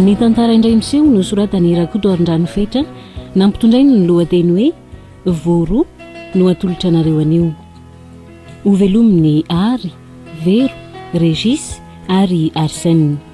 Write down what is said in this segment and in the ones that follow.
ny tantara indray miseho no soratany rakoto arindranyfetra nampitondrainy ny lohateny hoe voro no atolotra anareo anio hovelomin'ny ary vero regis ary arsene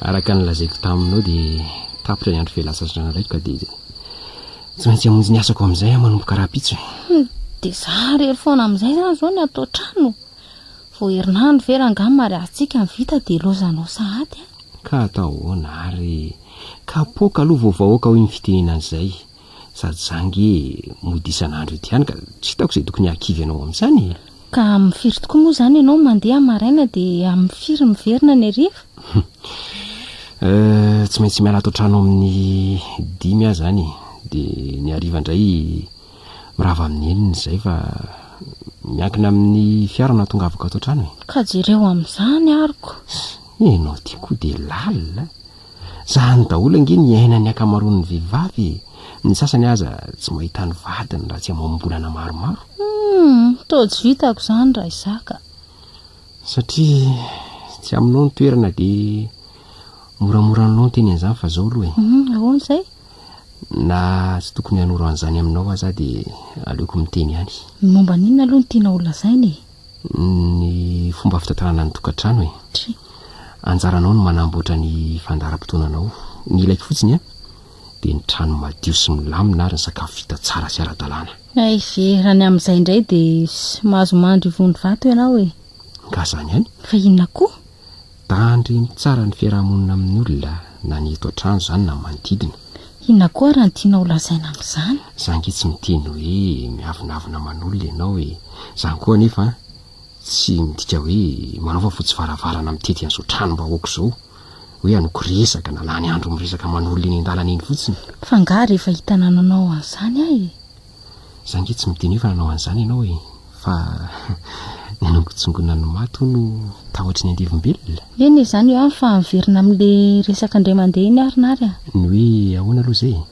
araka ny lazaiko taminao dia tapitra ny andro fialantsasatranareko ka dia tsy maintsy hamonjy ny asako amin'izay aho manomboka rahampitso e. hmm, dia za rery foana amin'izay zany izao ny atao trano vao herinandro ve rangaha mariazintsika ny vita dia lozanao sahady a ka atao ahoana ary kapoaka aloha vao vahoaka hoy ny fitenenana izay sady za nge mody isan'andro eto ihany ka tsy hitako izay tokony hahakivy anao amin'izany e. Ka amin'ny firy tokoa moa izany ianao mandeha maraina dia amin'ny firy miverina any hariva? Eh, tsy maintsy miala ato an-trano amin'ny dimy aho izany e. Dia ny hariva indray mirava amin'ny enina izay fa miankina amin'ny fiara no hahatongavako ato an-trano e. Ka jereo amin'izany aroko. Ianao ity koa dia lalina. Zany daholo ange ny iainan'ny akamaroan'ny vehivavy e! Ny sasany aza tsy mahita ny vadiny raha tsy amam-bolana maromaro. Humm, toa tsy vitako zany ra Isaka. Satria tsy aminao ny toerana dia moramora anao ny teny an'izany fa zao aloha e. Humm, ahoana izay? Na tsy tokony hanoro an'izany aminao aza aho dia aleoko miteny ihany. Ny momba an'inona aloha no tianao holazaina e? ny fomba fitantanana ny tokantrano e. Tsia. Anjaranao ny manamboatra ny fandaharam-potoananao. Ny ilaiko fotsiny an, dia ny trano madio sy milamina ary ny sakafo vita tsara sy ara-dalàna. Hay ve, raha ny amin'izay indray dia tsy mahazo mandry ivon'ny vato ianao e. Nga zany ihany? Fa inona koa? Andreny tsara ny fiarahamonina amin'ny olona na ny eto an-trano izany na manodidina. Inona koa ary no tianao holazaina amin'izany? Za ange tsy miteny hoe miavonavona aman'olona ianao e! Izany koa anefa tsy midika hoe manao fafotsy varavarana mitety an'izao tranom-bahoaka izao hoe hanoky resaka na lany andro miresaka aman'olona eny an-dalana eny fotsiny. F'angaha rehefa hitanananao an'izany aho e! Za ange tsy miteny hoe fa nanao an'izany ianao e! fa ny hanongotsongona ny maty hono no tahotry ny andevombelona? Eny e, izany io an, fa miverina amin'le resaka indray mandeha iny ary Nary a! Ny hoe ahoana aloha izay e?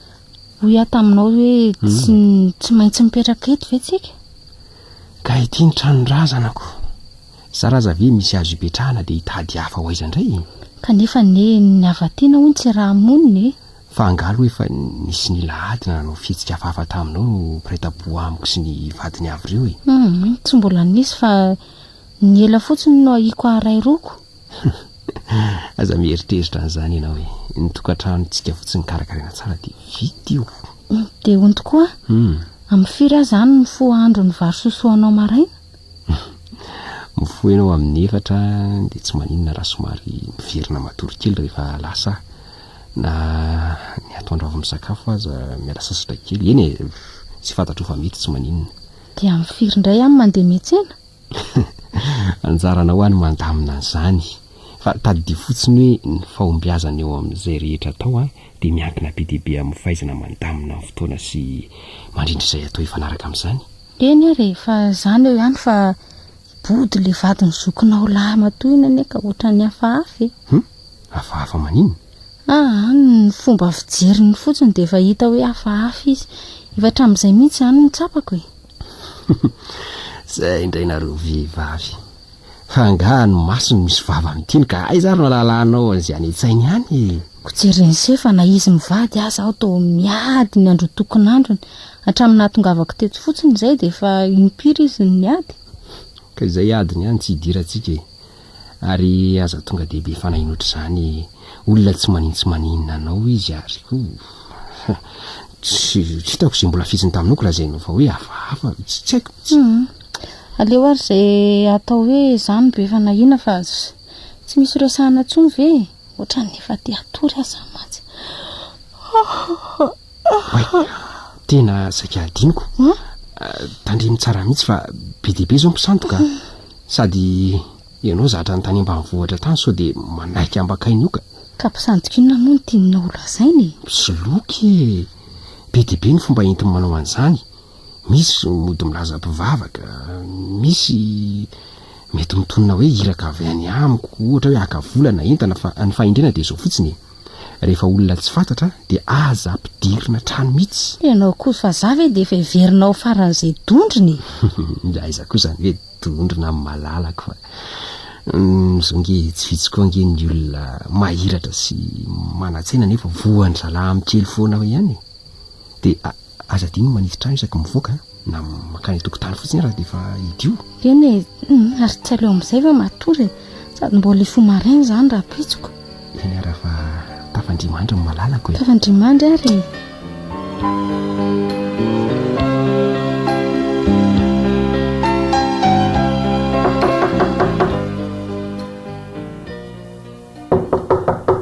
Hoy aho taminao hoe tsy tsy maintsy mipetraka eto ve tsika? Ka ity ny tranon-drazanako! Zara aza ve misy azo ipetrahana dia hitady hafa ho aiza indray e? Kanefa anie ny avatiana hono tsy raha monina e! Fa angaha aloha efa nisy nila ady na nanao fihetsika hafahafa taminao no mpiray tampo amiko sy ny vadiny avy ireo e? Humm, tsy mbola nisy fa ny ela fotsiny no ahiako haharay roko. Aza mieritreritra an'izany ianao e, ny tokantranontsika fotsiny karakaraina tsara dia vita io. Dia hono tokoa, amin'ny firy aho izany mifoha ahandro ny vary sosoa anao maraina? Mifoha ianao amin'ny efatra dia tsy maninona raha somary miverina matory kely rehefa lasa aho. Na ny atoandro avy misakafo aza miala sasatra kely. Eny e, tsy fantatro fa mety tsy maninona. Dia amin'ny firy indray any mandeha miantsena? Anjaranao any mandamina an'izany. Fa tadidio fotsiny hoe ny fahombiazana eo amin'izay rehetra atao dia miankina be dia be amin'ny fahaizana mandamina ny fotoana sy mandrindra izay atao hifanaraka amin'izany. Eny e, rehefa izany eo ihany fa body ilay vadin'ny zokinao lahy matoa iny anie ka ohatran'ny hafahafa e. Hum? hafahafa maninona? Aa, ny fomba fijeriny fotsiny dia efa hita hoe hafahafa izy. Efa hatramin'izay mihitsy izany no tsapako e. Zay indray nareo vehivavy. Fa angaha ny masony misy vava miteny ka aiza ary no alalanao an'izay any an-tsainy ihany e? Ko jereny se fa na izy mivady aza aho toa miady ny androtokon'androny. Hatramin'ny nahatongavako teto fotsiny izay dia efa impiry izy no niady? Ka izay adiny ihany tsy idirantsika e. ary aza tonga dia be fanahy notr'izany olona tsy manin tsy maninona anao izy ary koa tsy hitako izay mbola fiziny taminao ko lazainao fa hoe hafahafa tsy tsy haiko mihitsy hmm. aleo ary izay atao hoe za no be fanahiana fa tsy misy resahana tsony ve ohatran'ny efa te hatory aza mantsy tena saika adiniko tandremy tsara mihitsy fa be dia be izao mpisandoka Sady ianao zatra ny tany ambanivohitra tany sao dia manaiky ambakaina io ka. Ka mpisandoka inona moa no tianao ho lazaina e? Mpisoloky e! Be dia be ny fomba entiny manao an'izany. Misy mody milaza mpivavaka, misy mety mitonona hoe iraka avy any amiko, ohatra hoe haka vola na entana fa ny fahendrena dia izao fotsiny e! Rehefa olona tsy fantatra dia aza ampidirina an-trano mihitsy. Ianao koa vazaha ve dia efa heverina ho faran'izay dondrona e? Dia aiza koa izany hoe dondrona amin'ny malalako fa izao ange tsy vitsy koa ange ny olona mahiratra sy manan-tsaina nefa voan'ny zalahy amin'ny kely foana ihany e. Dia Aza adino ny manitsy trano isaky mivoaka na mankany an-tokotany fotsiny ary dia efa idio. Eny e, ary tsy aleo amin'izay ve matory e, sady mbola hifoha maraina izany raha pitsiko. Eny ary fa tafan'Andriamanitra no malalako e. Tafan'Andriamanitra ary e.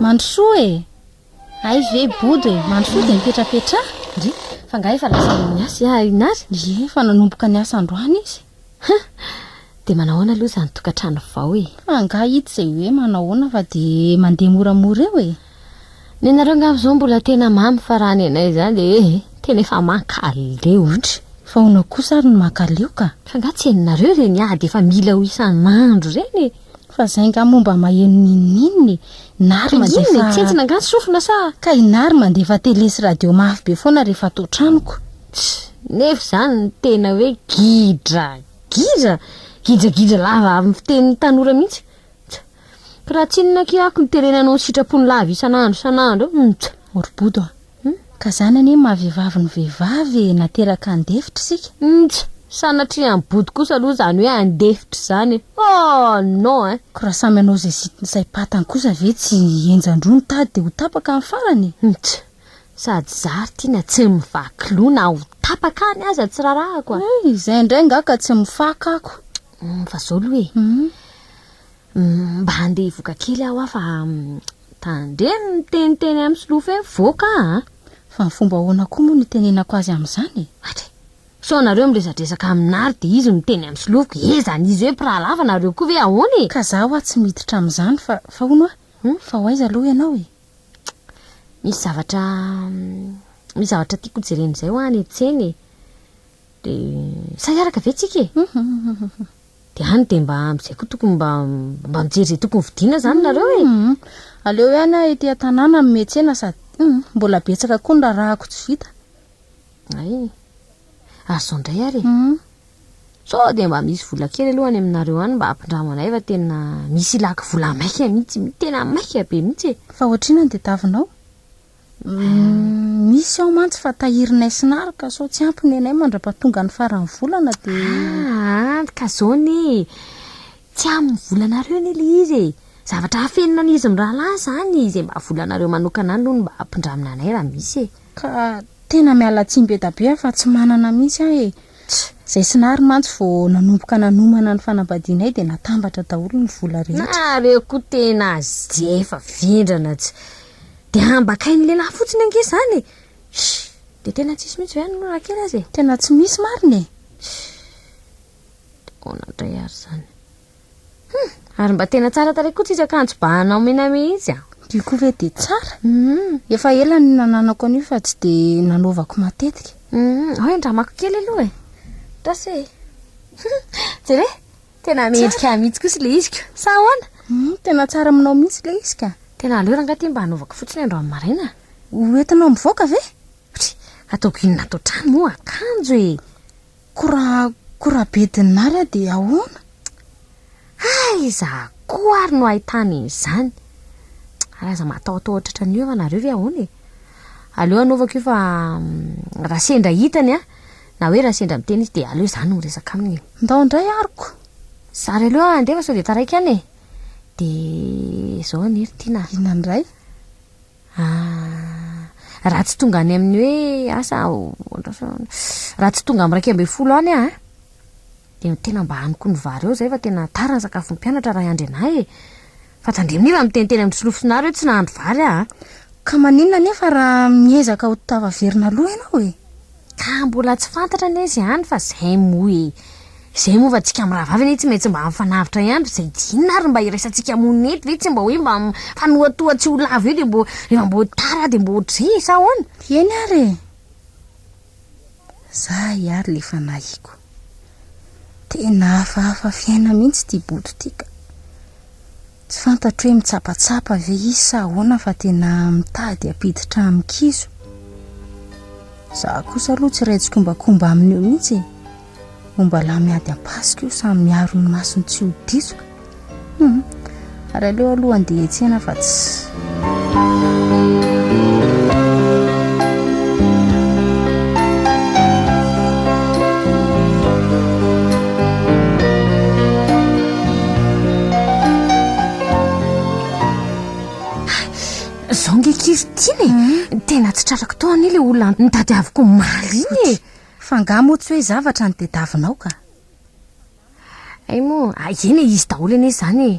Mandrosoa e. Hay ve bodo e, mandry foana dia mipetrapetraha? Ndry, fa nga efa lazaina amin'ny asa iah iny azy? Ndry, efa nanomboka niasa androany izy. Hum! Dia manao ahoana aloha izany tokantrano vao e? Fa nga hita izay hoe manao ahoana fa dia mandeha moramora eo e? Nenareo angamba izao mbola tena mamy fa raha ny anay izany dia eh, tena efa mankaleo. Ndry, fa ahoana kosa ary ny mankaleo ka? Fa nga tsy henonareo ireny ady efa mila ho isan'andro ireny e? Fa zay nga moa mba maheno ninoninona e! Nary mandefa. Inona e? Tsentsina nga ny sofina sa? Ka i Nary mandefa tele sy radio mafy be foana rehefa ato an-tranoko. Tch! Nefa izany no tena hoe gidra! Gidra! Gidragidra lava amin'ny fitenin'ny tanora mihitsy! Tch! Ka raha tsinona akia ako ny tele nanao ny sitrapony lava isan'andro isan'andro! Tch! Moribodo a! Humm ka zany anie maha vehivavy ny vehivavy e, nateraka handefitra isika. Ntsy! Sanatria any body kosa aloha izany hoe handefitra izany e! Oh non eh! Ko raha samy hanao izay sitiny saim-patany kosa ve tsy henjan-droa ny tady dia ho tapaka ny farany e! Ntsy! Sady zary tiana tsy mivaky loha na ho tapaka any aza tsy rarahako a! Hey! Izay indray angaha ka tsy mifaka ako. Humm fa zao aloha e! Humm. Mba handeha hivoka kely aho a fa tandremo ny miteniteny amin'ny solofo eo voaka a! Fa ny fomba ahoana koa moa no itenenako azy amin'izany e? Atra e! Sao nareo miresadresaka amin'Ary dia izy miteny amin'ny solofoko, he izany izy hoe mpiraha lava nareo koa ve ahoana e? Ka za hoa tsy miditra amin'izany fa fa hono hoa, fa ho aiza aloha ianao e? Misy zavatra misy zavatra tiako hojerena izay hoa any an-tsena e! Dia sa hiaraka ve tsika e? De any de mba amzay koa tokony mba mba mijery ze tokony vidiana zany nareo e. Humm aleo ihany aho ety an-tanàna no mihetsena sady humm mbola betsaka koa ny raharahako tsy vita. Ay e. Ary zao ndray ary e. Humm. Sao dia mba misy vola kely aloha any aminareo any mba hampindramo anay fa tena misy ilaky vola maika mihitsy, tena maika be mihitsy e. Fa ohatrinona ny tadiavinao? Misy ao mantsy fa tahirinay sy naro ka sao tsy ampy ny anay mandrapatonga ny faran'ny volana de Ah, ka zao anie e. Tsy amin'ny volanareo anie le izy e. Zavatra afenina an'izy mirahalahy zany izay mba volanareo manokana any aloha no mba ampindramina anay raha misy e. Ka tena miala tsiny be da be fa tsy manana mihitsy aho e. Zay sy naro mantsy vao nanomboka nanomana ny fanambadianay de natambatra daholo ny vola rehetra. Nareo koa tena azy efa vendrana tsy. Dia hambakain'ny lehilahy fotsiny ange izany e! Sh! Dia tena tsisy mihitsy ve any aloha raha kely aza e? Tena tsy misy marina e! Sh! Dia ahoana indray ary izany? Hum! Ary mba tena tsara tarehy koa tsisy akanjo bahana omena mihitsy an! Io koa ve dia tsara? Hum! Efa ela no nananako an'io fa tsy dia nanaovako matetika. Hum! Ahoy andramako kely aloha e! Tasy e! Hum! Jereo e! Tena mendrika ahy mihitsy kosa ilay izy ko. Sa ahoana? Hmm, tena tsara aminao mihitsy ilay izy ka. Tena aleo rangahy ity mba hanaovako fotsiny androany maraina. Ho entinao mivoaka ve? Try, ataoko inona ato an-trano moa akanjo e. Ko raha ko raha be dinary aho dia ahoana? Aiza koa ary no ahitana izany? Ary aza matahotaho tratran'ny io ianareo ve ahoana e? Aleo anaovako io fa mm, raha sendra hitany an, Na hoe raha sendra miteny izy dia aleo za no miresaka aminy e. Ndao indray aroko. Za re aleo handeha fa sao dia taraiky any e. Dia zao anie ry Tiana a. Inona indray? Ah, raha tsy tonga any amin'ny hoe asa aho, raha tsy tonga amin'ny iraika ambin'ny folo any aho a. Dia tena mba any koa ny vary eo izay fa tena tara ny sakafon'ny mpianatra Ray Andry anah e! Fa tandremo nefa miteniteny amin'ny solofosonareo hoe tsy nahandro vary aho a! Ka maninona nefa raha miezaka ho tafaverina aloha ianao e? Ka mbola tsy fantatra anie izany fa izay moa e! Izay moa fa tsika mirahavavy anie tsy maintsy mba mifanavotra ihany fa izay dia inona ary mba iraisantsika moa nety ve tsy mba hoe mba mifanohatoha tsy ho lavo eo dia mbo rehefa mbo tara dia mbo ohatr'izay e sa ahoana? Eny ary e! Za hiary le fanahiko. Tena hafahafa fiaina mihintsy ty bodo ty ka! Tsy fantatro hoe mitsapatsapa ve izy sa ahoana fa tena mitady hampiditra amin-kizo. Za kosa aloha tsy iray tsikombakomba aminy eo mihintsy e! Homba lahy miady am-pasika io samy miaro ny masony tsy ho ditsoka. Hmm. Ary aleo aloha andeha etsena fa tsy. Zao nge kivy tiana e. Hmm. Tena tsy trarako tao anie le olona nitady avoko omaly iny e. Fa nga moa tsy hoe zavatra ny tediavinao ka. Hay moa, a eny e, izy daholo anie izany e.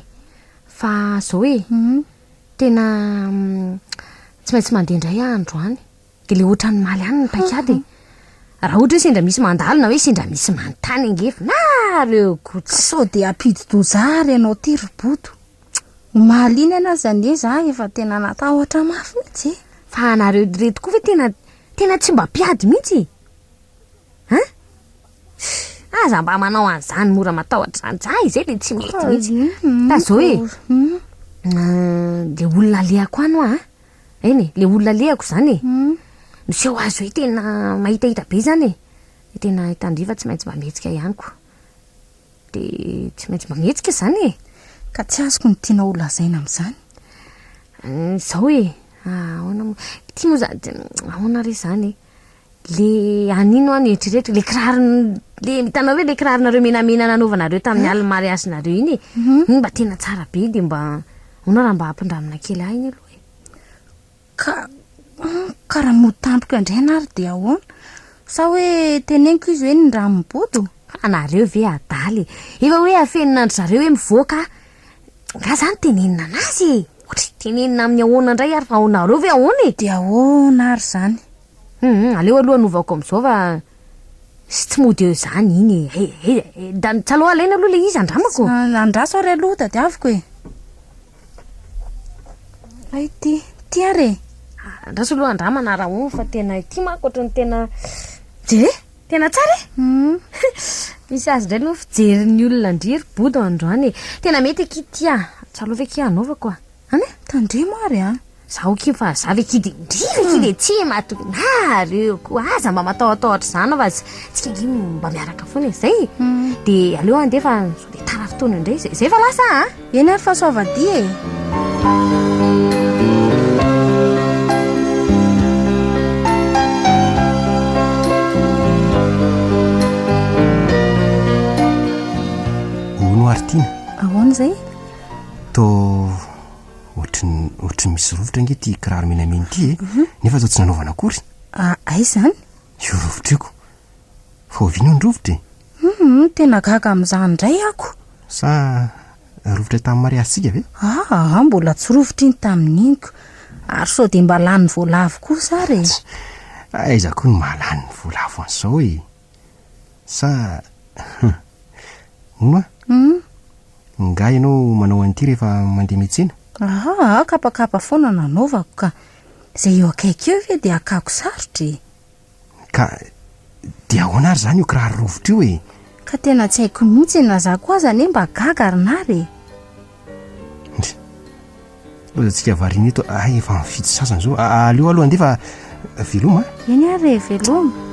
Fa zao e, tena tsy maintsy mandeha indray aho androany. Dia ilay ohatran'ny maly any ny paik'ady e. Raha ohatra hoe sendra misy mandalo na hoe sendra misy manontany ange fa nareo ko tsy. Sao dia hampidi-doza ahy ary ianao ity ry Bodo. Omaly iny anie aza anie za efa tena natahotra mafy mihitsy e. Fa nareo ireto koa ve tena Tena tsy mba mpiady mihitsy e! An? Aza mba manao an'izany mora matahotra izany, za izay dia tsy mety mihitsy. Fa zao e, le olona alehako any hoa an, eny e, le olona alehako izany e, miseho azy hoe tena mahitahita be izany e, dia tena i Tandriva tsy maintsy mba mihetsika ihany koa. Dia tsy maintsy mba mihetsika izany e! Ka tsy azoko ny tianao holazaina amin'izany. Izao e. Ah, ahoana moa. Ity moa za- de ahoana re izany e. Le an'ino aho no eritrereto, le kiraro le hitanao ve le kiraronareo menamena nanaovanareo tamin'ny alin'ny mariazinareo iny e. Iny mba tena tsara be dia mba ahoana raha mba ampindramina kely ahy iny aloha e. Ka ka raha mody tampoka eo indray ianao ary dia ahoana? Sa hoe teneniko izy hoe ny rano mibodo? Anareo ve adala e. Efa hoe afenin'andry zareo hoe mivoaka a. Nga zany tenenina anazy e! Otri tenenina aminy ahoana ndray ary fa anareo ve ahoana e? De ahoana ary zany? Hum aleo aloha anovaoko amizao fa sy tsy mody eo zany iny e! Hay hay hay da ny tsalo alaina aloha le izy andramako! Andraso ary aloha tadiaviko e! Fa ity, ity ary e! Andraso aloha andramana raha ohatra fa tena ity manko otrany tena. Dia? Tena tsara e! Misy azy indray no fijerin'ny olona an-dry ry Bodo androany e. Tena mety akia ty ah. Tsarovy akia hanaovako ah. An e, tandremo ary an. Zaho akia fa za ve akia dia indrindra akia dia tsy mahatonina nareo koa. Aza mba matahotahotra izany fa tsika ange mba miaraka foana e. Izay e. Dia aleo andeha fa sao dia tara fotoana indray. Izay fa lasa ah. Eny ary fa soavadia e! Hono ary Tina, Ahoana izay? toa ohatry ny ohatry ny misy rovitra ange ity kiraro menamena ity e, nefa toa tsy nanaovana akory. Ah, aiza izany? Io rovitra io ko. Fa oviana io ny rovitra e? Humm tena gaga amin'izany indray ako. Sa rovitra tamin'ny mariazintsika ve? Aa mbola tsy rovitra iny tamin'iny ko. Ary sao dia mba lany vola avo kosa ary e. Tch! Aiza koa no mahalany ny vola avo an'izao e. Sa humm. Hono a? Humm. Nga ianao manao an'ity rehefa mandeha miatsena? Aa kapakapa foana nanaovako ka. Izay eo akaiky eo ve dia hakako sarotra e. Ka dia ahoana ary izany io kiraro rovitra io e? Ka tena tsy haiko mihitsy e, na izaho koa aza anie mba gaga ry nary e! Ndry. Lozantsika variana eto, hay efa mifidy sasany izao, aleo aloha andeha fa veloma a! Eny ary e, veloma!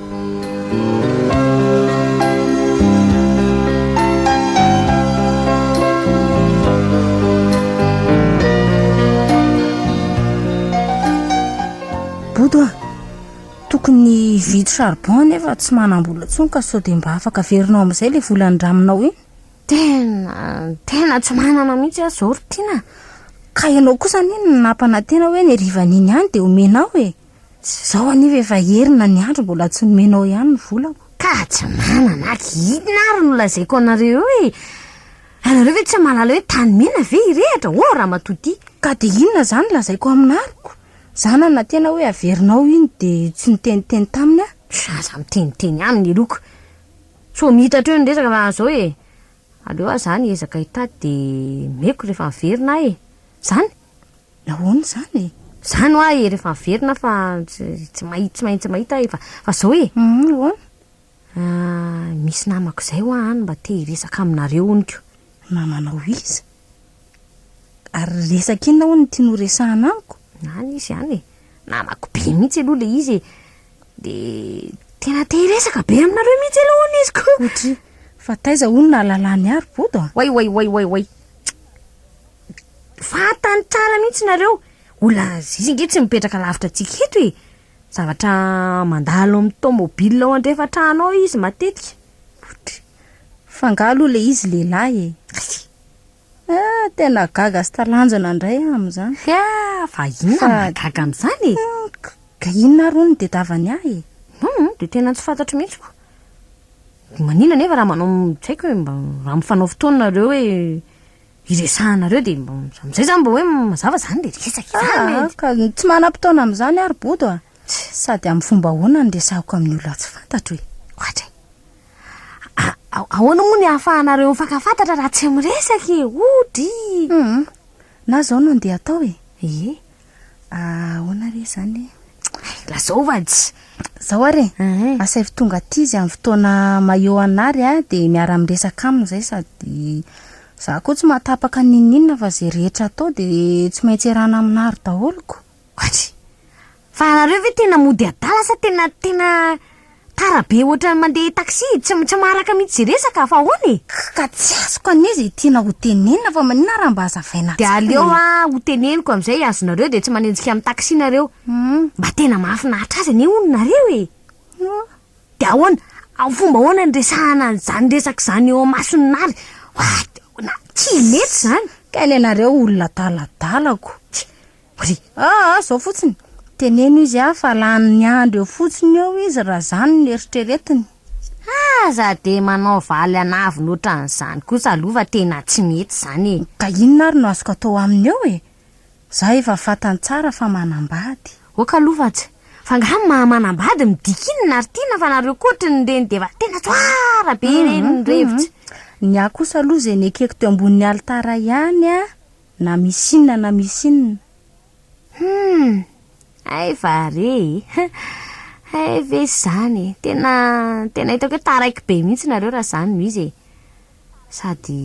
Tokony hividy charbon nefa tsy manambola tsony ka sao dia mba afaka averinao amin'izay ilay vola andraminao iny. Tena, tena tsy manana mihitsy aho izao ry Tiana. Ka ianao kosa anie no nampanantena hoe ny harivan'iny ihany dia omenao e. Izao aniva efa herina ny andro mbola tsy nomenao ihany ny volako. Ka tsy manana aky inona ary no lazaiko anareo eo e. Ianareo ve tsy mahalala hoe tany mena ve hirehatra ô ramatoa tia. Ka dia inona izany lazaiko aminariko? Zana na tena hoe averinao iny de tsy niteniteny taminy ah. Aza miteniteny ihany ny loko. Tsy ho mita hatreo ny resaka fa zao e, aleo ah za niezaka hitady de omeko rehefa miverina aho e. Zany? Nahoana izany e? Zany hoa e, rehefa miverina aho fa tsy mahi- tsy maintsy mahita aho e, fa zao e. Humm nahoana? Ahh misy namako zay hoa any mba te hiresaka aminareo hono ko. Namanao iza? Ary resaka inona hono ity noresahana amiko? Any izy any e. Namako be mihitsy aloha le izy e. De tena te hiresaka be aminareo mihitsy aloha hono izy ko. Otry, fa taiza hono nahalalany ary bodo a? Way way way way way. Fantany tsara mihitsy nareo. Olona zizzy nge tsy mipetraka lavitra antsika eto e. Zavatra mandalo amin'ny tomobile ao andrefan-trano ao izy matetika. Otry, f'angaha aloha le izy lehilahy e? Hay! Ah, tena gaga sy talanjona indray aho amin'izany. Hia, fa inona no mahagaga amin'izany e? Ka inona ary hono no tedavany ahy e? Hum, dia tena tsy fantatro mihitsy koa. Manina anefa raha manao tsy haiko hoe mba raha mifanao fotoana nareo hoe hiresahanareo dia mba amin'izay izany mba hoe mazava izany dia resaka Ah, izany. ah, ka tsy manam-potoana amin'izany ary Bodo a. Sady amin'ny fomba ahoana no resahiko amin'ny olona tsy fantatro e? Ohatra e. Ahoana moa ny ahafahanareo mifankafantatra raha tsy miresaka e? Ody! Hum, na zao no ndeha atao e. Ie. Ahoana re izany e? Lazao vady. Zao ary e, Ehe. asaivo tonga aty izy amin'ny fotoana maio anà ary a, dia miara-miresaka aminy izay sady za koa tsy mahatapaka n'inon'inona fa izay rehetra atao dia tsy maintsy iarahana aminà ry daholiko. Koaty! Fa nareo ve tena mody adala sa tena tena tara be ohatran'ny mandeha taxi? Tsy tsy maharaka mihitsy izay resaka fa ahoana e? K ka tsy azoko anie izay tiana ho tenenina fa maninona raha mba hazavaina Dia tsara aleo e? ah ho teneniko amin'izay azonareo dia tsy manenjika amin'ny taxi nareo. Mba tena mahafinaritra azy anie hono nareo e! Ohh. Dia ahoana? Amin'ny fomba ahoana no resahana an'izany resaka izany eo imason'i Nary? What? Na, tsy mety izany! Ka ny anareo olona adaladala ko! Tsia! Ry aa zao fotsiny, teneno izy aa fa lany ny andro eo fotsiny eo izy raha zany no eritreretiny. Aza dia manao valy an'avona otran'izany kosa aloha fa tena tsy mety izany e! Ka inona ary no azoko atao aminy eo e? Za efa fantany tsara fa manambady. Ok aloha fa tsy. Fa nga ny maha manambady midika inona ary tiana fa nareo koa otriny ireny dia efa tena tsara be ireny ny revitsy. Ny ahy kosa aloha izay nekeko teo ambonin'ny alitara ihany an! Na misy inona na misy inona. Humm! Hay va re e! Hay ve izany e! Tena, tena hitako hoe taraiky be mihitsy nareo raha izany no izy e! Sady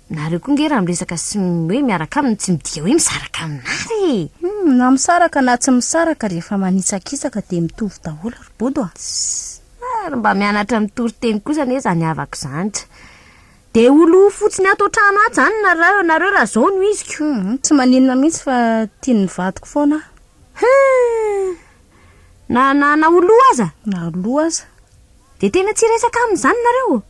nareo koa nge raha miresaka sy hoe miaraka aminy tsy midika hoe misaraka aminà re e! Humm! Na misaraka na tsy misaraka rehefa manitsakitsaka dia mitovy daholo ry Bodo a! Tss! Ary mba mianatra mitory teny kosa anie izany havako izany. Dia ho lo fotsiny ato an-trano ato izany nareo, nareo raha izao no iziko. Hum, tsy maninona mihitsy fa tian'ny vadiko foana aho. Hum! Na, na, na ho lo aza? Na ho lo aza. Dia tena tsy hiresaka aminy izany nareo?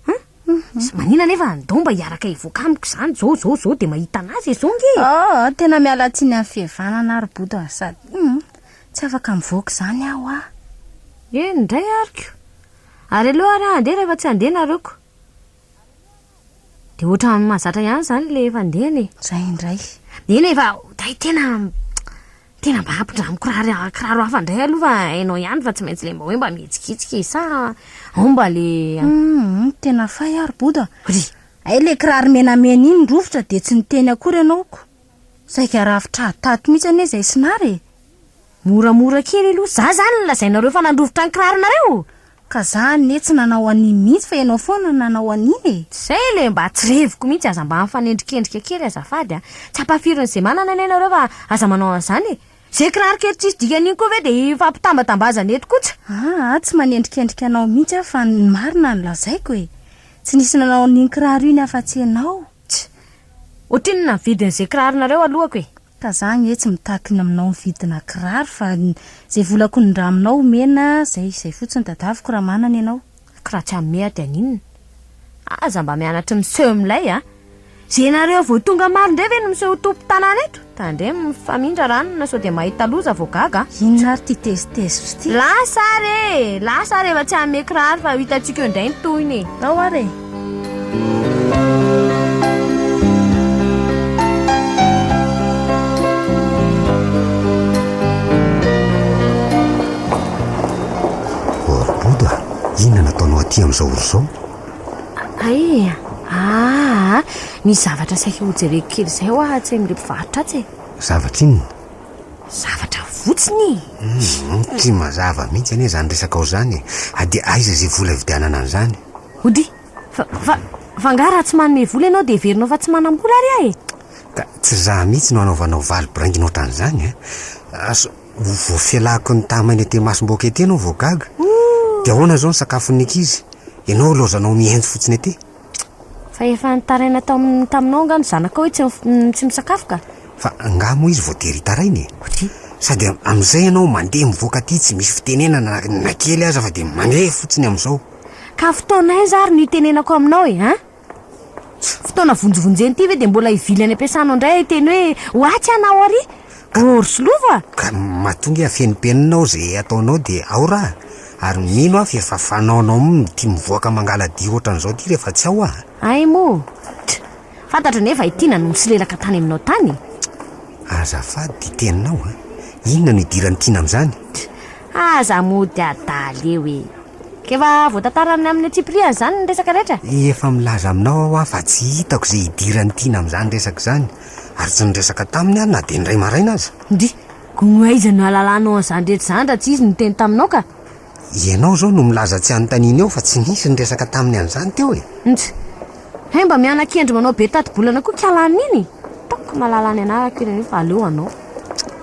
Hum? Mhm. Tsy maninona anefa ndao mba hiaraka hivoaka amiko izany izao, izao, izao dia mahita an'azy e, izao nge e. Oh, tena miala tsiny amin'ny fihevanana ary Bodo a, sady, hum, tsy afaka mivoaka izany aho a. Eny indray ariko. Ary aleo ary aho handeha rehefa tsy handeha nareoko. Dia ohatran'ny mahazatra ihany izany ilay efa handehana e. Izay indray. Neny e, fa hay tena tena mba ampindramiko kiraro kiraro hafa indray aloha fa hainao ihany fa tsy maintsy ilay mba hoe mba mihetsiketsika e, sa ao mba ilay. Hum, tena fay aho ry Bodo a! Hay ilay kiraro menamena iny rovitra dia tsy niteny akory ianao ko. Saika rafitr'ady tato mihitsy anie izay sinara e. Moramora kely aloha za zany no lazainareo fa nandrovitra ny kiraronareo? Ka za anie tsy nanao an'iny mihitsy fa ianao foana no nanao an'iny e! Zay le mba tsy reviko mihitsy aza mba mifanendrikendrika kely azafady a! Tsy ampahafirin'ny ze manana anie nareo fa aza manao an'zany e! Ze kiraro kely tsisy dikany iny koa ve de hifampitambatambazana eto koa tsy. Aa tsy manendrikendrika anao mihitsy aho fa ny marina no lazaiko e! Tsy nisy nanao an'iny kiraro iny afa-tsy ianao! Tsy. Ohatrinona ny vidin'ze kiraronareo alohako e! Ka za anie tsy mitaky ny aminao mividina kiraro fa zay vola konindraminao omena zay izay fotsiny dadaviko raha manana ianao. Kratsa meha dia haninona? Aza mba mianatry miseho milay a! Ze nareo vao tonga maro ndray ve no miseho ho tompo tanàna eto? Tandremo mifamindra ranona sao dia mahita loza vao gaga a! Inona ary ty tezitezitra ty? Lasa ary e! Lasa ary efa tsy hanome kiraro fa ho hitantsika eo indray ny tohiny e! Ao ary e! Ny zavatra saika hojereko kely izay ho ahatsy amin'ireo mpivarotra atsy e. Zavatra inona? Zavatra votsiny e. Hmm, tsy mazava mihitsy anie izany resaka ao izany e. Dia aiza izay vola hividianana an'izany? Ody, fa, fa, fa angaha raha tsy manome vola ianao dia heverinao fa tsy manam-bola ary aho e? Ka tsy izaho mihitsy no hanaovanao valy biraingina ohatran'izany an! Asa ho voafelako ny tamainy ety imasom-bohoka ety ianao vao gaga? Dia ahoana izao ny sakafon'ny ankizy? Ianao ilaozanao mihaino fotsiny ety? Fa efa nitaraina tao amin'ny taminao angaha ny zanakao hoe tsy, tsy misakafo ka? Fa angaha moa izy voatery hitaraina e? Ody. Sady am, amin'izay ianao mandeha mivoaka aty tsy misy fitenenana na, na kely aza fa dia mandeha fotsiny amin'izao. Ka fotoana aiza ary no hitenenako aminao e, an? Fotoana vonjivonjena ity ve dia mbola hivily any am-piasanao indray hiteny hoe ho atsy ianao ary? Orso lova! Ka matoa nge afenimpenina ao izay ataonao dia ao raha, ary mino aho fa efa fanaonao mitia mivoaka mangaladia ohatran'izao ity rehefa tsy ao aho. Hay moa! Tch! Fantatro anefa i Tiana no nisolelaka tany aminao tany e! Azafady ty teninao a! Inona no idiran'i Tiana amin'izany? Aza mody adala eo e! K'efa voatantarany amin'ny antsipiriany izany ny resaka rehetra? Efa milaza aminao aho a fa tsy hitako izay idiran'i Tiana amin'izany resaka izany, ary tsy niresaka taminy aho na dia indray maraina aza. Dia koa aiza no ahalalanao an'izany rehetra izany raha tsy izy no niteny taminao ka? Ianao izao no milaza tsy anontaniana eo fa tsy nisy niresaka taminy an'izany teo e! Nj. Hay mba miana-kendry manao be tati-bolana koa kialahy an'iny e! Ataoko mahalala ny anarako iny anio fa aleo hanao.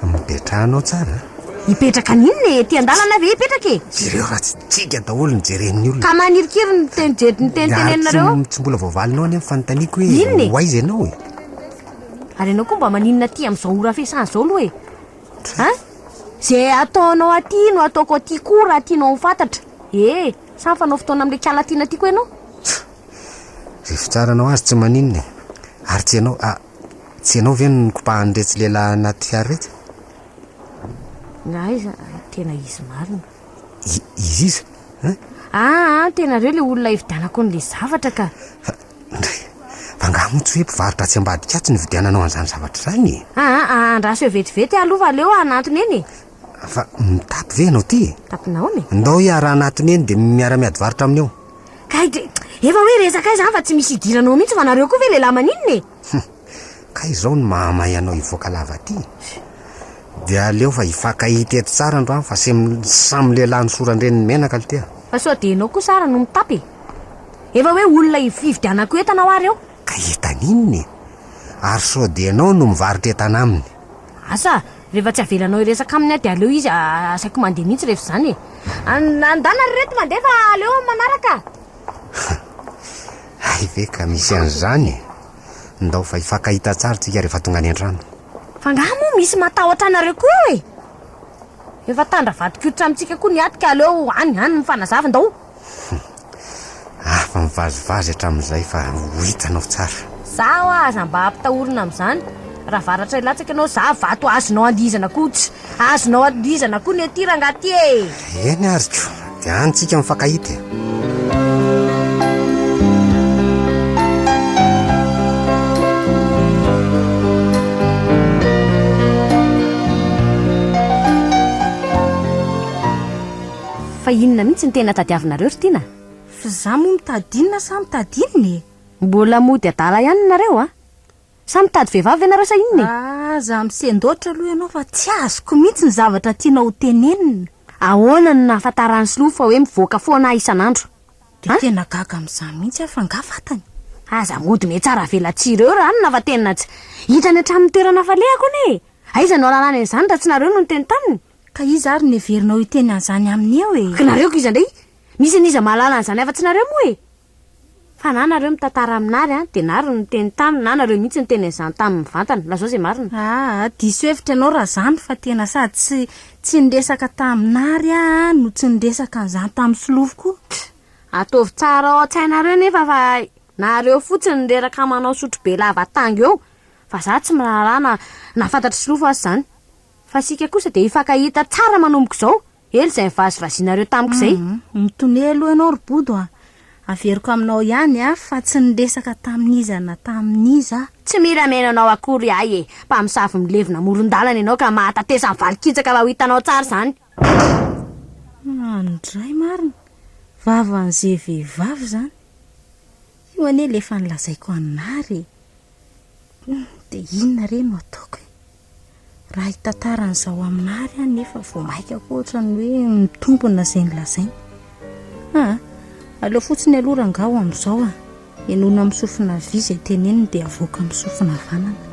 Mipetraha anao tsara a! Hipetraka an'inona e! Ety an-dalana ve hipetraka e! Jereo raha tsy tsinga daholo ny jeren'ny olona. Ka manirikiry ny teny jery ny teny teneninareo eo. Ary tsy mbola voavalinao anie ny fanontaniako hoe ho aiza ianao e! Ary ianao koa mba maninona aty amin'izao ora fiasana izao aloha e! An! Ze ataonao aty no ataoko aty koa raha tianao ho fantatra e! Sa mifanao fotoana amin'ilay kala tiana tiako ianao? Ze fitsaranao azy tsy maninona e! Ary tsy ianao, ah, tsy ianao ve no nikopahan'iretsy lehilahy anaty fiara iretsy? Na aiza, tena izy marina. I, izy iza? An! Ah, an, tena reo ilay olona hividianako an'ilay zavatra ka! Ndry! Fa angaha moa tsy hoe mpivarotra atsy ambadika atsy nividiananao an'izany zavatra izany e? Aa, aa, andraso eo vetivety aloha fa aleo hanantona eny e! Fa mitapy ve ianao ity e? Tapy nahoana e? Ndao hiarahana atony eny dia miara-miady varotra aminy eo. Kay dia efa hoe resaka izany fa tsy misy idiranao mihitsy fa nareo koa ve lehilahy maninona e? Kay izao no mahamay anao hivoaka lava aty dia aleo fa hifankahita eto tsara androany fa samy lehilahy nosoran-dreniny menaka aloha ty a! Fa sao dia ianao kosa ary no mitapy e! Efa hoe olona hividianako entana ho ary eo! Ka entana inona e? Ary sao dia ianao no mivarotra entana aminy? Asa a! Rehefa tsy avelanao hiresaka aminy aho dia aleo izy asaiko mandeha mihitsy rehefa izany e! Andana ry reto mandeha fa aleo manaraka! Hay ve ka misy an'izany e! Ndao fa hifankahita tsara tsika rehefa tonga any antrano. Fa ngaha moa misy matahotra anareo koa eo e? Efa tandra vadin-koditra amintsika koa ny aty ka aleo any any mifanazava ndao. Afa mivazivazy hatramin'izay fa ho hitanao tsara. Za ho'a aza mba ampitahorina amin'izany. Raha varatra hilatsaka ianao za vato azonao andihizana koa tsy. Azonao andihizana koa ny aty rangaha aty e! Eny ary ko, dia any tsika mifankahita e! Fa inona mihitsy no tena tadiavinareo ry Tiana? F'izaho moa mitady inona sa mitady inona e? Mbola mody adala ihany nareo a! Sa mitady vehivavy ianareo sa inona e? Aza misendoatra aloha ianao fa tsy azoko mihitsy ny zavatra tianao ho tenenina. Ahoana no nahafantaran'i Slo fa hoe mivoaka foana aho isan'andro? Dia tena gaga amin'izany mihitsy aho fa angaha fantany? Aza ahodina etsy ary avela tsy ireo ranona fa tena tsy. Hitrany hatramin'ny toerana hafaliako anie e! Aiza no hahalalany an'izany raha tsy nareo no niteny taminy? Ka iza ary no heverinao hiteny an'izany aminy eo e? Ka nareo koa iza indray? Misy an'iza mahalala an'izany afa-tsy nareo moa e? Fa na nareo mitantara aminary an, dia nary no niteny taminy, na nareo mihitsy niteny an'izany taminy mivantana. Lazao izay marina. Aa, diso hevitra ianao raha izany fa tena sady tsy tsy niresaka taminary aho an, no tsy niresaka an'izany tamin'ny solofo koa. Tch! Ataovy tsara ao an-tsainareo nefa fa nareo fotsiny no reraka manao sotrobe lava tango eo, fa za tsy miraharaha na na fantatr'i solofo aza izany. Fa isika kosa dia hifankahita tsara manomboka izao. Ela izay nivazivazianareo tamiko izay. Hum, mitonia aloha ianao ry Bodo a. Averiko aminao ihany a, fa tsy niresaka tamin'iza na tamin'iza aho. Tsy mila mihaino anao akory ahy e. Mpamosavy milevina amoron-dalana ianao ka mahatatesa ny valin-kitsaka fa ho hitanao tsara izany. Any indray marina, vavan'ze vehivavy izany. Io anie ilay efa nilazaiko anary e. Dia inona re no ataoko e. Raha hitantara an'izao aminà ary aho nefa vao mainka koa ohatran'ny hoe mitombina izay nolazainy. Aa, aleo fotsiny aloha rangaha ho amin'izao a. Henoina amin'ny sofina havia izay teneniny dia avoaka amin'ny sofina havanana.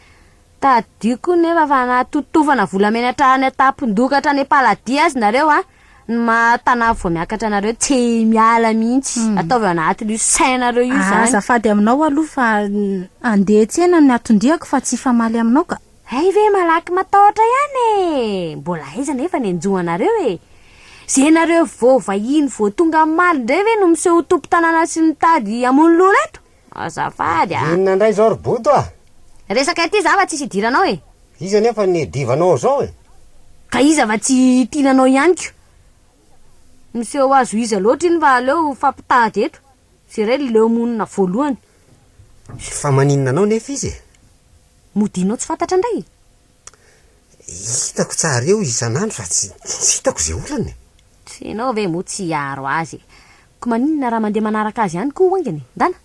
Tadidiko nefa fa nahatotofana volamena hatrany an-tampon-doka hatrany am-paladia azy nareo a! Ny maha tanà vao miakatra anareo tsy miala mihitsy! Ataovy ao anatin'io sainareo io izany! Azafady aminao aloha fa handeha tsena ny aton-diako fa tsy hifamaly aminao ka! Hay ve malaky matahotra ihany e! Mbola aiza anefa ny hanjo anareo e! Ze nareo vao vahiny vao tonga omaly indray ve no miseho ho tompon-tanàna sy mitady hamono loha reto? Azafady a! Inona indray izao ry Boto a! Resaka ity za va tsisy idiranao e! Iza nefa ny divanao izao e! Ka iza va tsy tiana anao ihany ko! Miseho azo iza loatra iny fa aleo hifampitady eto, ze iray leo monina voalohany. Fa maninona anao nefa izy e! Mody inao tsy fantatra indray e! Hitako tsara eo isan'andro fa tsy hitako izay olana e! Tsy ianao ve moa tsy hiaro azy e! Ko maninona raha mandeha manaraka azy ihany koa hoaingany e! Ndana!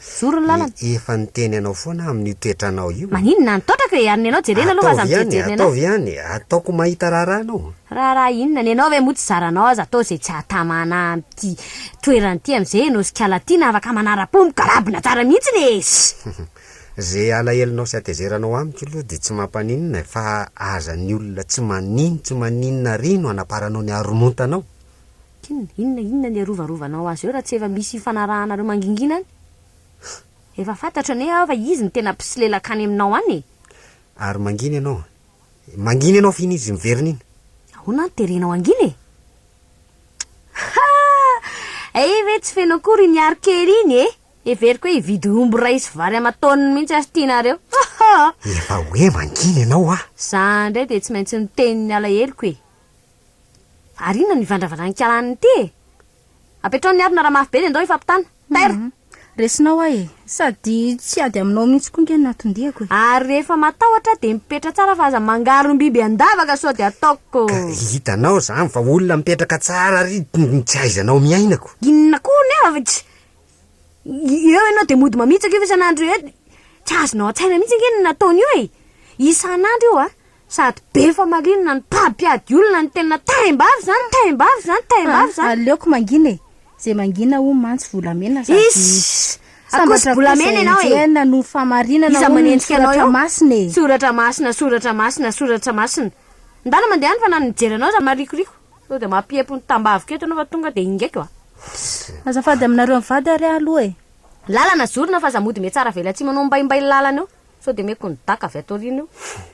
Mijoro ny lalana! Efa niteny anao foana amin'io toetranao io! Maninona any taotrako e! Ary ny anao jerena aloha fa aza mijery jerena ahy! Ataovy ihany e! Ataoko mahita raharaha anao! Raharaha inona? Ny anao ve moa tsy zaranao aza atao izay tsy hahatamana ahy amin'ity toerana ity amin'izay ianao sy Kala tiana afaka manara-po migalabona tsara mihitsiny e! Ze alahelonao sy atezeranao amiko aloha de tsy mampaninona e, fa aza ny olona tsy manino tsy maninona ary no hanaparanao ny haromontanao. Inona, inona, inona ny hiarovarovanao azy eo raha tsy efa misy hifanarahanareo mangingina any? Efa fantatro anie aho fa izy no tena mpisolelaka any aminao any e! Ary mangina ianao a! Mangina ianao f'iny izy miverina iny! Ahoana no terenao hangina e? Haa! Ee ve tsy feno akory iny arikely iny e! Heveriko hoe hividy omby iray sy vary aman-taoniny mihitsy ary tianareo. Efa hoe mangina ianao ah! Za indray dia tsy maintsy niteny ny alaheloko e! Ary inona no ivandravandran-kialany ity e! Apetraho ny harona raha mafy be dia ndao hifampitana. Taira! Resinao ahy e! Sady tsy ady aminao mihitsy koa nge no natondiako e! Ary rehefa matahotra dia mipetra tsara fa aza mangarom-biby an-davaka sao dia ataoko. Ka hitanao izany fa olona mipetraka tsara ary tsy ahaizanao miaina ko! Inona koa ny havako? Eo ianao dia mody mamitsaka io isan'andro io, tsy azonao an-tsaina mihitsy ange ny nataony io e! Isan'andro io a! Sady be famarinana ny mpampiady olona ny tena taim-bavy izany, taim-bavy izany, taim-bavy izany. Aleoko mangina e! Izay mangina hono mantsy volamena sady Iss! Akoso bolamena ianao e! Sambatra koa izay enjehina no fahamarinana hono ny soratra masina e! Soratra masina, soratra masina, soratra masina. Ndana mandeha any fa na ny mijery anao aza marikoriko. Sao dia mampiempo ny tambaviko eto ianao fa tonga dia ingaiko a! Fsss. Azafady aminareo mivady ary aho aloha e! Lalana zorina f'aza mody mihatsara avela tsy manao mbaimbai ny lalana eo sao dia meko ny daka avy ato aoriana eo. Fsss.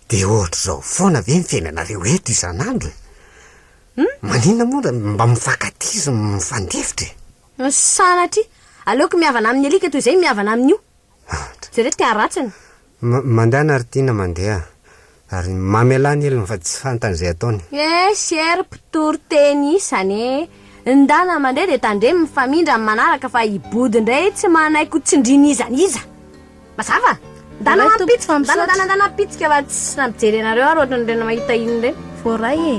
Dia ohatr'izao foana ve ny fiainanareo eto isan'andro e? Hum? Maninona moa ra mba mifankatia sy mifandefitra e? Hum, sanatria! Aleoko mihavana amin'ny alika toy izay mihavana amin'io! Jereo ty haratsiny. Mandehana ry Tiana mandeha ary mamelà ny helony fa tsy fantany izay ataony. Yes ery mpitory teny isany e! Ndana mandeha dia tandremo mifamindra amin'ny manaraka fa i Body indray tsy manaiky tsindrina iza n'iza! Mazava? Ndana mampitsika, ndana ndana ndana mpitsika fa tsy nampijery anareo ary ohatran'ireny mahita iny ireny. Voaray e!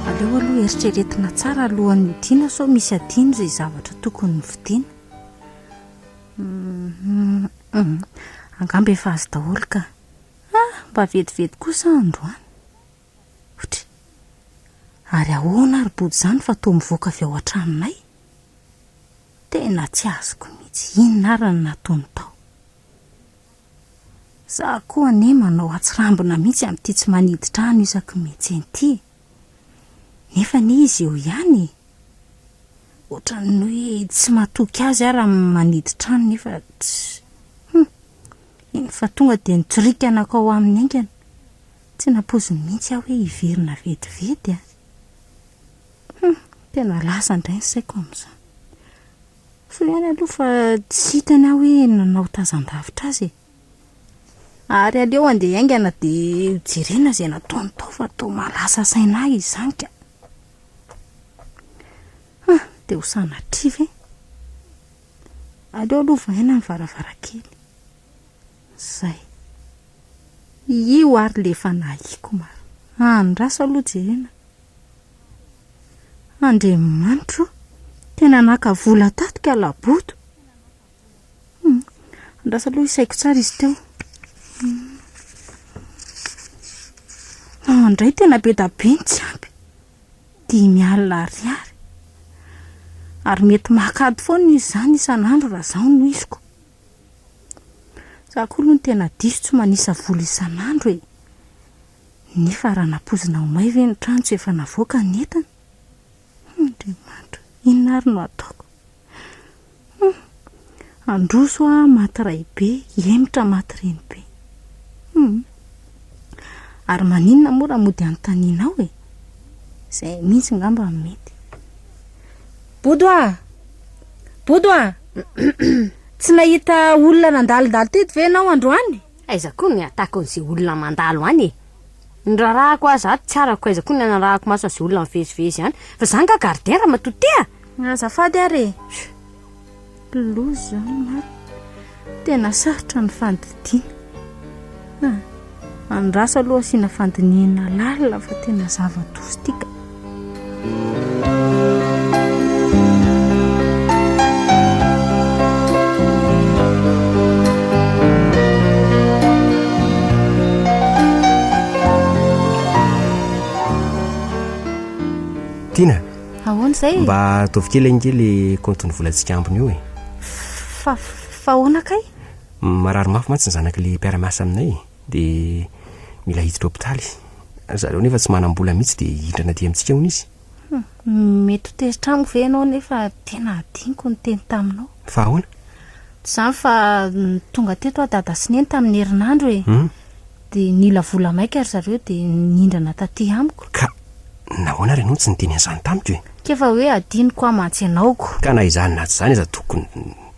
Aleo aloha eritreretina tsara alohan'ny hidiana sao misy adino izay zavatra tokony ny fidiana. Mhm. Angamba efa azo daholo ka. Ah, mba vetivety kosa aho androany. Ohatry. Ary ahoana ary body izany fa toa mivoaka avy ao an-tranonay? Tena tsy azoko mihitsy inona ary no nataony tao. Za koa anie manao hatsirambina mihitsy amin'ity tsy manidy trano isaky ny mihetsena ity e. Nefa anie izy eo ihany e. Ohatran'ny hoe tsy matoky azy aho raha manidy trano nefa tsy. Hum, eny fa tonga dia nitsoriaka nakao aminy haingana. Tsy nampoiziny mihitsy aho hoe hiverina vetivety a! Hum, tena lasa indray ny saiko amin'izany. Soa ihany aloha fa tsy hitany aho hoe nanao tazan-davitra azy e! Ary aleo andeha haingana dia hojerena izay nataony tao fa toa mahalasa saina ahy izany ka! Hum, dia ho sanatria ve? Aleo aloha vahaina ny varavarankely. Zay. Io ary le efa nahiko mar. Andraso aloha jerena. Andriamanitro o! Tena naka vola tato ka laboto. Hum. Andraso aloha isaiko tsara izy teo. An dray tena be da be ny tsy ampy. Dimy alina ariary. Ary mety maka ady foana izy zany isan'andro raha zaho no hisiko. Za koa aloha no tena diso tsy manisa vola isan'andro e! Nefa raha nampoizina ho may ve ny trano tsy efa navoaka ny entana? Hum Andriamanitra o! Inona ary no ataoko? Hum! Handroso aho maty raibe, hihemotra maty renibe. Hum! Ary maninona moa raha mody anontanianao e? Izay mihitsy ngamba no mety. Bodo a! Bodo a! Tsy nahita olona nandalondalo teto ve ianao androany? Aiza koa ny atako an'izay olona mandalo any e! Ny raharahako aza ato tsy arako aiza koa ny anarahako maso an'izay olona mivezivezy any. Fa za nga gardien ramatoa tia? Azafady ary e! Loza, marina. Tena sarotra ny fandidiana. Andraso aloha asiana fandinihina lalina fa tena zava-doza ity ka. Tina. Ahoana izay e? Mba ataovy kely ange le compte-n'ny volantsika ambiny eo e. Fa fa ahoana kay? Marary mafy mantsy ny zanak'ilay mpiara-miasa aminay e. Dia mila hiditra hopitaly. Zareo nefa tsy manam-bola mihitsy dia hihindrana aty amintsika hono izy. Mety ho tezitra amiko ve ianao nefa tena hadinoko ny teny taminao. Fa ahoana? Tsy izany fa tonga teto aho dada sy neny tamin'ny herinandro e. Hum. Dia nila vola maika ry zareo dia nihindrana taty amiko. Ka nahoana ary ianao tsy niteny an'izany tamiko e? Ka efa hoe adinoko amantsy ianao ko! Ka na izany na tsy izany aza tokony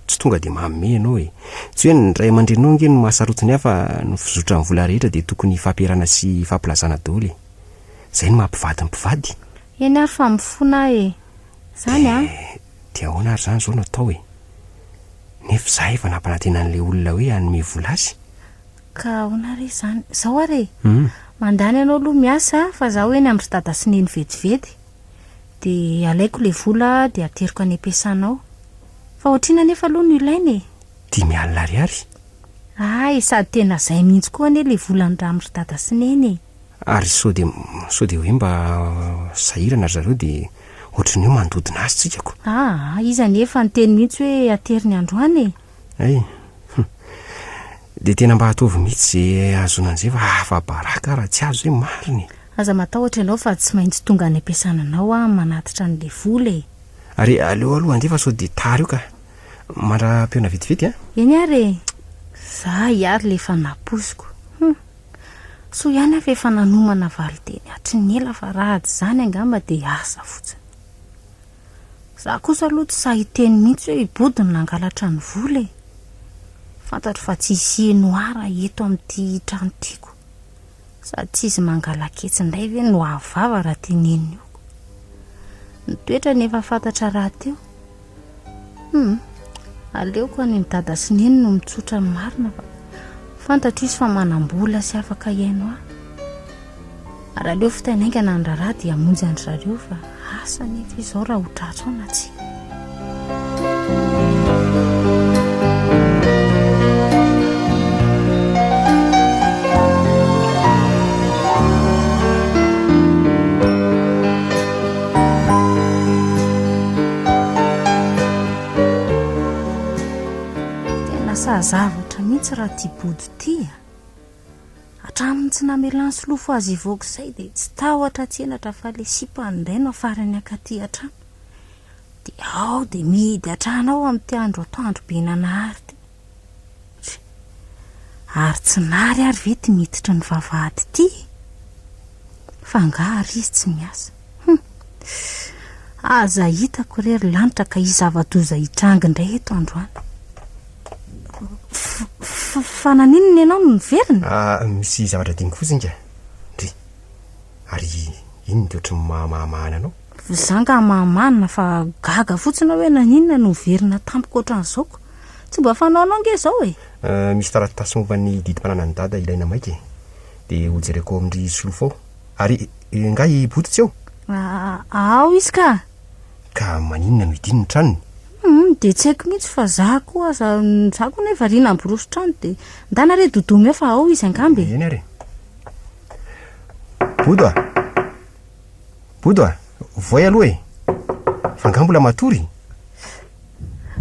tsy tonga dia manome ianao e! Tsy hoe ny ray aman-dreninao ange no maha-sarotiny ahy fa ny fizotran'ny vola rehetra dia tokony hifampiarana sy hifampilazana daholo e! Izay no maha-mpivady ny mpivady! Eny ary fa mifona aho e! Izany an! Dia ahoana ary izany izao no atao e! Nefa izaho efa nampanantena an'ilay olona hoe hanome vola azy! Ka ahoana ary izany? Izao ary e! mandany anao aloha miasa fa izaho eny amin-dry dada sy neny vetivety, dia alaiko ilay vola dia ateriko any am-piasana ao. Fa ohatr'inona anefa aloha no ilaina e? Dimy alina ariary. Hay, sady tena izay mihitsy koa anie ilay volan'ny rà amin-dry dada sy neny e! Ary sao dia, sao dia hoe mba sahirana ry zareo dia ohatry ny hoe mandodona azy tsika ko! Aa, izy anefa niteny mihitsy hoe ateriny androany e! Hay! Hum! Dia tena mba ataovy mihitsy izay ahazoana an'izay fa afa-baraka aho raha tsy azo izay, marina e! Aza matahotra ianao fa tsy maintsy tonga any am-piasana anao aho manatitra an'ilay vola e! Ary aleo aloha handeha fa sao dia tara eo ka! Mandra-pihaona vetivety an! Eny ary e! Za hiary ilay efa napoiziko! Hum! Soa ihany aho fa efa nanomana valinteny hatry ny ela fa raha tsy izany angamba dia asa fotsiny! Za kosa aloha tsy sahy hiteny mihitsy hoe i Body no nangalatra ny vola e! Fantatro fa tsy hisy hienoar eto amin'ity trano tiako sady tsy izy mangalaketsy indray ve no hahavava raha teneniko. Ny toetrany efa fantatra rahateo. Hum, aleoko any ny dada sy neny no mitsotra ny marina fa fantatro izy fa manam-bola sy afaka hihaino ahy. Raha aleo fotay naingana ny raharaha dia hamonjy an-dry zareo fa asa ny eto izao raha ho tratry ao na tsia. Tena sahazavatra mihitsy raha tia body tia. Hatramin'ny tsy namelany solofo azy hivoaka izay dia tsy tahotra tsy henatra fa ilay sipany indray no afarany hankaty hatrany. Dia ao dia mihidy hatrany ao amin'ity andro atoandro be nanahary ity. Tsia. Ary tsy nary ary ve ity miditry ny vavahady ity e? Fa angaha ary izy tsy miasa? Hum. Aza hitako re ry lanitra ka hisy zava-doza hitranga indray eto androany. Fa naninona ianao no niverina? Ah, misy zavatra diniko fotsiny ka. Ndry. Ary inona dia ohatry ny mahamahana anao? Za nga mahamana fa gaga fotsiny aho hoe naninona no niverina tampoka ohatran'izao ko. Tsy mba fanaonao nge izao e. Ah, misy taratasy momba ny didim-pananan'i Dada ilaina maika e. Dia hojereko ao amin-dry Solofo ao. Ary nga i Boto tsy eo? A, ao izy ka! Ka maninona no idiny ny tranony? Humm, dia tsy haiko mihitsy fa za koa aza, za koa nefa ry namboroso trano dia ndana re Dodo omeo fa ao izy angamba e. Eny ary. Bodo a! Bodo a! Voay aloha e! Fa nga mbola matory?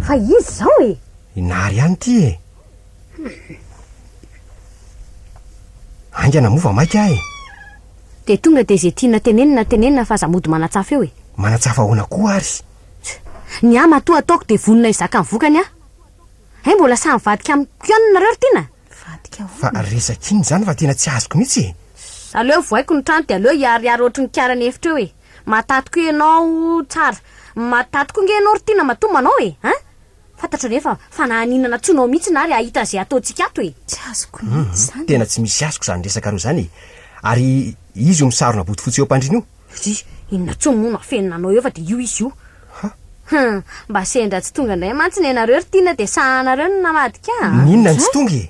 Fa izy izao e! Inary ihany ity e! Haingana moa vao maika aho e! Dia tonga dia izay tiana tenenina tenenina fa aza mody manatsafa eo e! Manatsafa ahoana koa ary? Ny ahy matoa ataoko dia vonona hizaka ny vokany aho. Hay mbola sahy mivadika amiko ihany nareo ry tiana? Mivadika ahoana? Fa resaka inona izany fa tena tsy azoko mihitsy e! Aleo vohaiko ny trano dia aleo hiharihary ohatry ny kiaran'ny efitra eo e! Mahataty koa ianao tsara, mahataty koa ange ianao ry tiana matoa manao e! An! Fantatro anefa fa na haninana tsy ho nao mihitsy na ary hahita an'izay ataontsika ato e! Tsy azoko mihitsy izany e! Tena tsy misy azoko izany resaka roa izany e! Ary izy io misarona bodofotsy eo am-pandriana io? Tsia, inona intsony moa no afenina anao eo fa dia io izy io! Ha! Hum! Mba sendra tsy tonga indray mantsy ny anareo ry Tiana dia sahanareo no namadika an! Ny inona no tsy tonga e!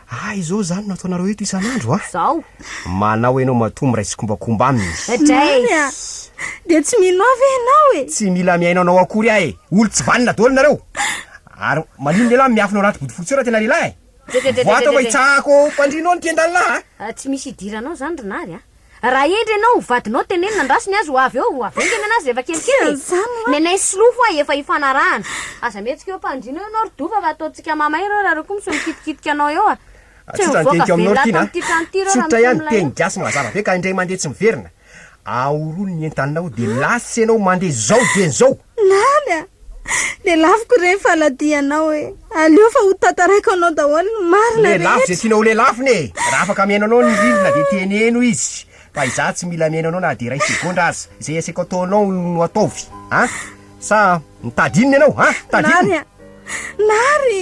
Ah izao zany no ataonareo eto isan'andro a? Zao. Manao enao matoa miray tsikombakomba aminy. Zany a! Dia tsy mino ahy ve enao e? Tsy mila mihaino anao akory aho e! Olo tsy vanona daholo nareo! Ary maninona ialahy miafina ao anaty bodofotsy ao raha tena lehilahy e? Vao ato mba hitsahako ao am-pandrianao ny mpiandalina aho a! Tsy misy idiranao zany ry nary a! Raha hendry ianao ho vadinao teneno nandraso ny azy ho avy eo, ho avy eo ny tenen'azy rehefa kelikely e! Nenay sy Lou hoa efa hifanarahana. Aza mihetsika eo ampandriana eo ianao ry Dova fa ataontsika mamay ireo raha ireo koa misy mikitikitika anao eo a! Tsy ho mivoaka velona ato amin'ity trano ity ireo raha misy olona eo. Tsotra ihany, teny gasy mazava be ka indray mandeha tsy miverina. Ahorony ny entanao dia lasa ianao mandeha zao dieny zao! Naly a! Lelafiko re ny faladianao e! Aleo fa ho tantaraiko anao daholo ny marina rehetra! Lelafo izay tianao ho lelafony e! Raha afaka mihaino anao ny rindrina dia teneno izy fa izaho tsy mila mihaino anao na dia iray segondra aza! Izay asaiko ataonao no ataovy an! Sa mitady inona ianao an! Mitady inona? Nary a! Nary!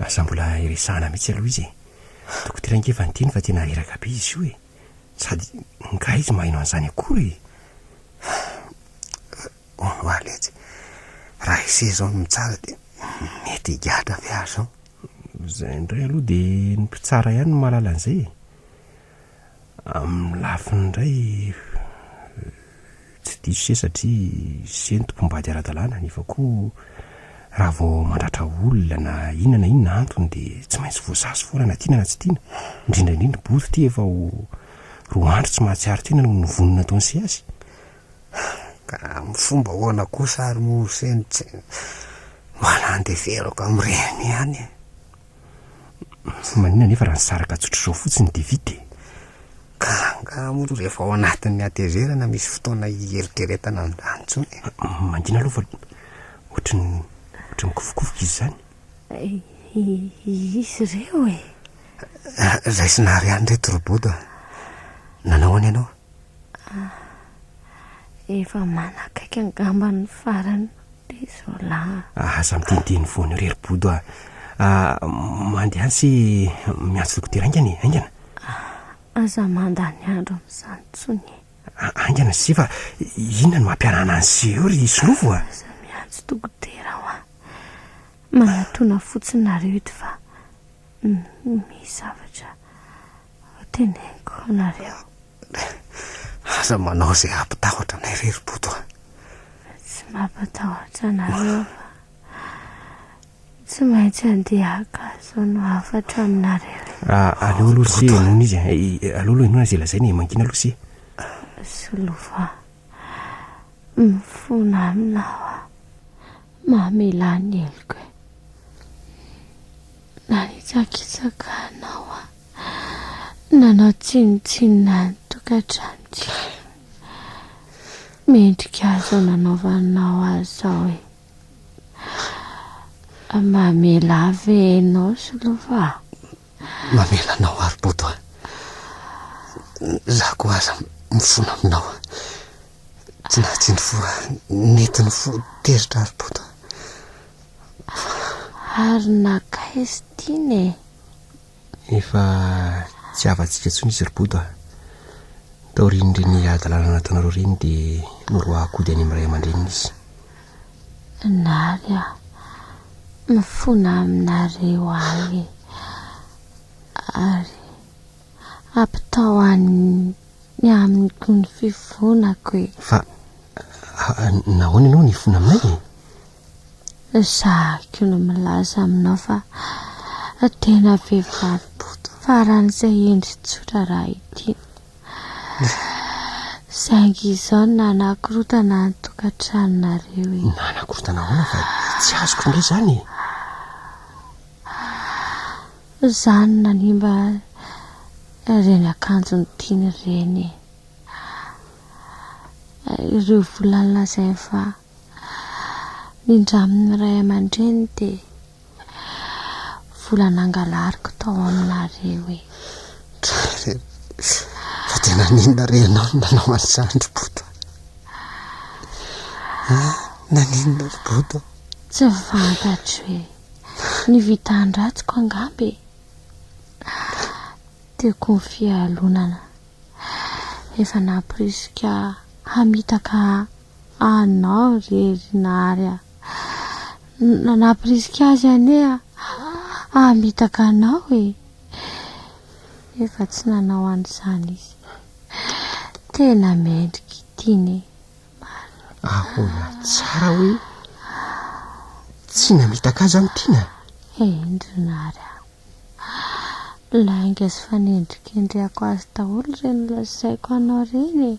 Aza mbola iresahana mihitsy aloha izy e! Dokotera ange efa niteny fa tena reraka be izy io e! Sady ngaha izy maheno an'izany akory e! Hono aho letsy, raha ise izao no mitsara dia mety higadra ve aho izao? Izay indray aloha dia ny mpitsara ihany no mahalala an'izay e! Amin'ny lafiny indray, tsy diso se satria ze no tompom-bady ara-dalàna nefa koa raha vao mandratra olona na inona na inona antony dia tsy maintsy voasazy foana na tiana na tsy tiana, indrindra indrindra bodo ity efa ho roa andro tsy mahatsiaro tena noho ny vono nataon'i se azy. Ka amin'ny fomba ahoana kosa ary moa se no tsy mba nandeferako amin'ireny ihany e? Fa maninona anefa raha nisaraka tsotr'izao fotsiny dia vita e? Ka angaha moa aloha rehefa ao anatin'ny hatezerana misy fotoana hieritreretana an'izany intsony e? Mangina aloha fa ohatry ny ohatry ny kofokofoka izy izany. Izy ireo e? Raisina àry ihany ireto Robodo a! Nanao ahoana ianao? Ah, efa manakaiky angamba ny farany be izao lahy. Ah, aza miteniteny foana eo ry Bodo ah. Ah, mandeha any sy miantso dokotera aingana e, aingana. Ah, aza mandany andro amin'izany intsony e. Ah, aingana sy fa inona no mampiarahana an'izay eo ry Solofo ah. Aza miantso dokotera aho ah. Manatona fotsiny nareo eto fa misy zavatra. Hoteneniko anareo. Aza manao izay hampitahotra anay re ry Boto a! Tsy mampatahotra anareo fa tsy maintsy handeha haka hazo no hafatra aminareo e! Aleo aloha ry Sia henoina izy e! Aleo aloha henoina izay lazainy e! Mangina aloha Sia! Solova, mifona amina aho a! Mamelà ny heloko e! Nanitsakitsaka anao aho, nanao tsinontsinona ny tokantranontsika. Mendrika ahy izao nanaovanao ahy izao e. Mamela ahy ve ianao Solova a? Mamela anao ary Bodo a. Izaho koa aza mifona aminao. Tsy nahatsindry voa nentin'ny fo teritra ary Bodo a. Ary nankaiz tiny e? Efa tsy havantsika intsony izy ry Bodo a! Taorian'ireny hadalana nataonareo ireny dia noroahak'ody any amin'ny ray aman-dreniny izy. Nary a! Mifona aminareo ahy e! Ary ampitao any amiko ny fifonako e! Fa nahoana ianao nifona aminay e? Ezahiko ny milaza aminao fa tena vehivavy boto faran'izay hendry tsotra raha ity. Saingy izao nanakorontana ny tokantranonareo e. Nanakorontana ahoana fa tsy azoko indray izany e. Izany nanimba ireny akanjony tiany ireny e. Ireo vola nolazainy fa Ny ndramin'ny ray aman-dreny dia vola nangalariko tao aminareo e! Ry Renan, fa dia naninona re ianao no nanao an'izany ry Bota a? Naninona ry Bota? Tsy fantatro e! Ny vitan-dratsiko angamba e! Tiako ny fialonana, efa namporisika hamitaka ahy. Anao re ry Nary a! Nampirisika azy anie hamitaka anao e! Nefa tsy nanao an'izany izy. Tena mendrika ity ne! Marina. Ahoana tsara hoe tsy namitaka azy an'i Tiana? Eny ry Nary a! Lainga sy fanendrikendrehako azy daholo ireny lazaiko anao ireny e!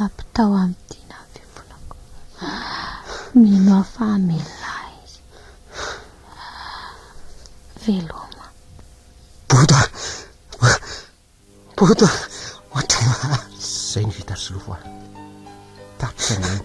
Ampitao amin'ny dina ny fifonako. Mino aho fa hamelona ahy izy. Veloma. Bota! Bota! Ohatran'ny mahazo. Izay no vita solofo aho. Tapitra ny ainy.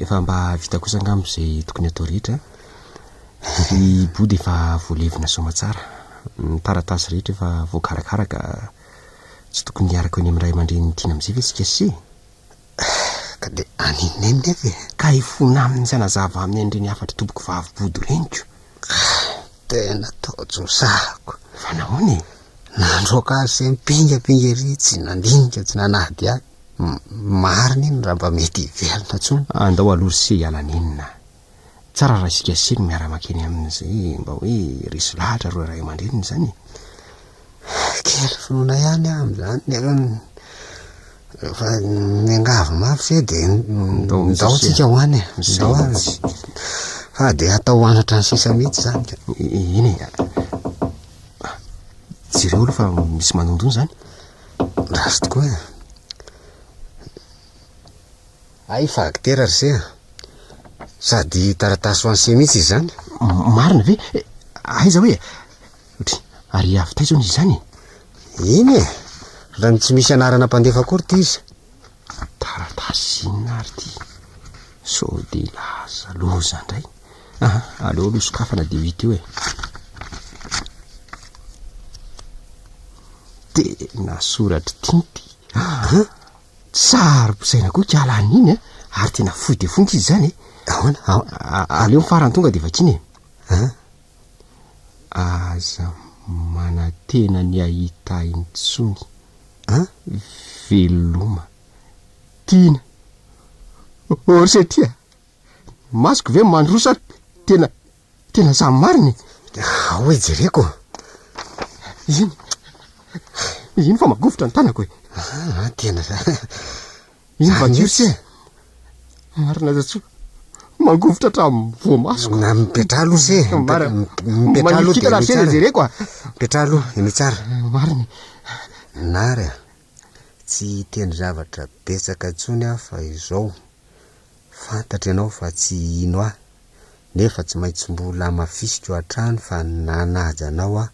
Efa mba vita kosa angamba izay tokony hatao rehetra an! Ny body efa voalevina soamatsara, ny taratasy rehetra efa voakarakara ka tsy tokony hiaraka eo eny amin'ny ray aman-drenin'i Tiana amin'izay ve isika se? Ka dia any i Neny nefa e! Ka hifona aminy sy hanazava aminy an'ireny hafatr'i Tompoko vavy body reniko. Tena taojosahako! Fa nahoana e? Nandroaka azy sy mpingapinga ery tsy nandinika tsy nanadihady. Marina iny raha mba mety hiverina intsony. Andao aloha ry se hiala nenina. Tsara raha isika se no miara-makeny amin'izay mba hoe resy lahatra ireo ray aman-dreniny izany e. Kely finoana ihany aho amin'izany nefa rehefa miangavy mafy ve dia ndao tsika ho any e. Ndao any. Fa dia hatao ho any hatrany sisa mihitsy izany ka. Eny e. Jereo aloha fa misy manondro izany. Ratsy tokoa e! Hay facteur ry se a! Sady taratasy ho an'i se mihitsy izy izany. Marina ve? Aiza hoe? Otry, ary avy taiza hono izy izany e? Iny e! Raha ny tsy misy anarana mpandefa akory ity izy. Taratasy inona ary ity? Sao dia laza loza indray? Aha, aleo aloha sokafana dia ho hita eo e! Tena soratr'i Tinty! Aha, saro-pisaina koa ikala an'iny e! Ary tena fohy dia fohy ankizy izany e! Ahoana, ahoana, aleo ny farany tonga dia vakiana e! Aha, Aza manantena ny hahita intsony a! Veloma Tiana. Orse tia ny masoko ve mandroso sa tena tena zany marina e? Ao e jereko. Iny iny fa magovitra ny tanako e. Ah, tena. Iza va Jiosy e? Marina aza tsy mangovitra hatramin'ny voamasoko. Na mipetraha aloha se. Marina. Mipetraha aloha dia aloha tsara. Jereko a. Mipetraha aloha, aloha tsara. Marina. Nary a. Tsy hiteny zavatra betsaka intsony aho fa izao. Fantatro ianao fa tsy hino ahy. Nefa tsy maintsy mbola hamafisiko hatrany fa nanaja anao aho,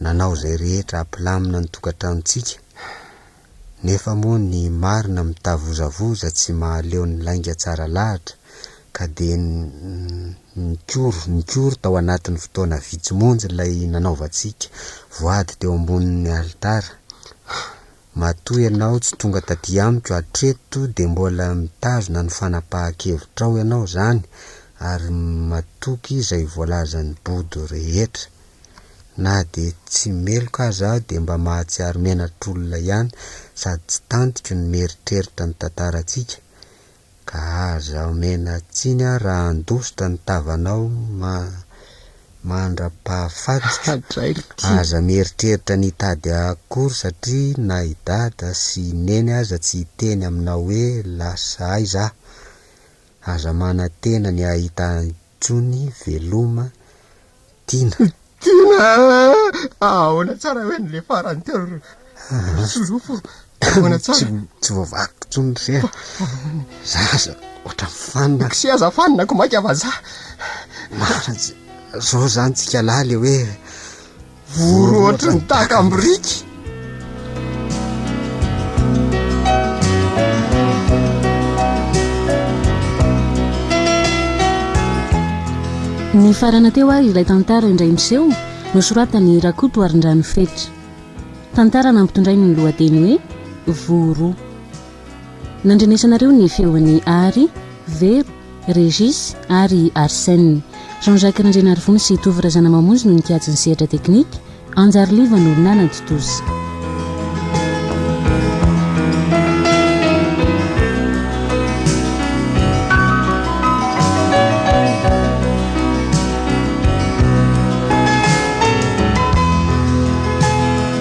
nanao izay rehetra hampilamina ny tokantranontsika. Nefa moa ny marina mitavozavoza tsy mahaleo ny lainga tsara lahatra ka dia nikory nikory tao anatin'ny fotoana vitsy monja ilay nanaovantsika voady teo ambonin'ny alitara. Matoa ianao tsy tonga taty amiko hatreto dia mbola mitazona ny fanapahan-kevitrao ianao izany ary matoky izay voalazan'i Bodo rehetra. Na dia tsy meloka aza aho dia mba mahatsiaro menatr'olona ihany sady tsy tantiko ny mieritreritra ny tantarantsika ka aza omena tsiny aho raha handositra ny tavanao ma mandra-pahafatiko. Aza mieritreritra ny hitady ahy akory satria na i Dada sy i Neny aza tsy hiteny aminao hoe lasa aiza aho. Aza manantena ny hahita ahy intsony veloma Tina. Tina a! Ahoana tsara hoe ny le farany teo ry solofo? Ahoana tsara? Tsy voavakiko intsony ry sera. Za aza ohatran'ny fanina. K'se aza fanina ko maika vazaha. Marina zao zany tsika lahy le hoe Voro ohatry ny takam-biriky. Nifarana teo ary ilay tantara indray miseho nosoratan'i Rakoto Arindrano Fetra. Tantara nampitondrainy ny lohateny hoe Voro. Nandrenesanareo ny feon'i Ary, Vero, Régis ary Arsène. Jean Jacques Randrianarivony sy Tovo Razanamamonjy no nikajy ny sehatra teknika, Anjary Liva no nanatontosa.